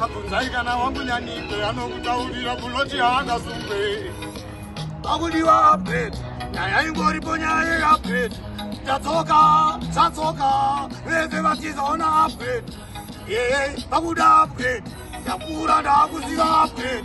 Abvunzai kana wangu nyanike anokutaurira kunoti haangasungwe. Akudiwa update. Nyaya ingoripo nyaya yeupdate. Tatsoka, tatsoka. Vese vatizaona update. Yeye, pakuda update. Ndakura ndakuziva update.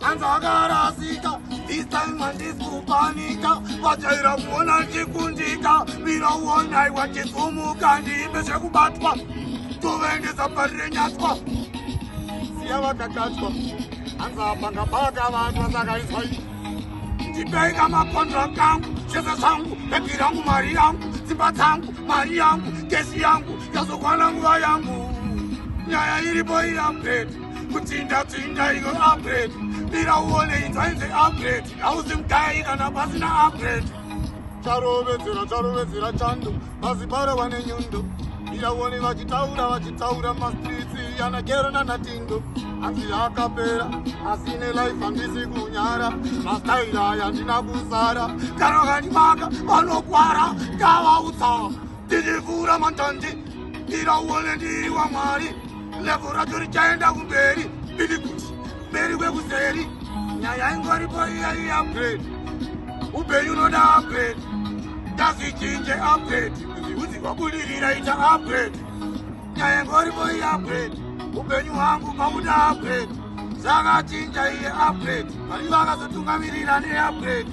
hanzi akarasika this time handisi kupanika vajaira kuona ndichikundika mira uonai wachisumuka ndiimbe zvekubatwa tovaendesa pari renyatwa siya vakakatwa hanzi apanga baka vatwa saka izwa ii ndipeika makondra kangu zvese zvangu bhebhi rangu mari yangu dzimba dzangu mari yangu gesi yangu yazokwana nguva yangu nyaya iripo iyambeti kutsinda tsinda iko upgrade bira uone inzwa inze upgrade hauzi mudai kana pasina upgrade charovedzera charovedzera chando mazibara wane nyundo bira uone vachitaura vachitaura mastritsi anagero nanatindo hanzi akapera asine life handisi kunyara mastaira yandina kusara kana kandimaka vanokwara ndavautsaa Ndinivura mantanzi ndiraone ndiri wamwari levo racho richaenda kumberi bili kuti mberi kwekuseri nyaya ingoripo iya iyi upgrade upenyu unoda upgrade tazvichinje upgrade kuzviudzi kwabudirira ita upgrade nyaya ingoripo iyi upgrade upenyu hwangu makuda upgrade zvakachinja iye upgrade vari vakazotungamirira neupgrade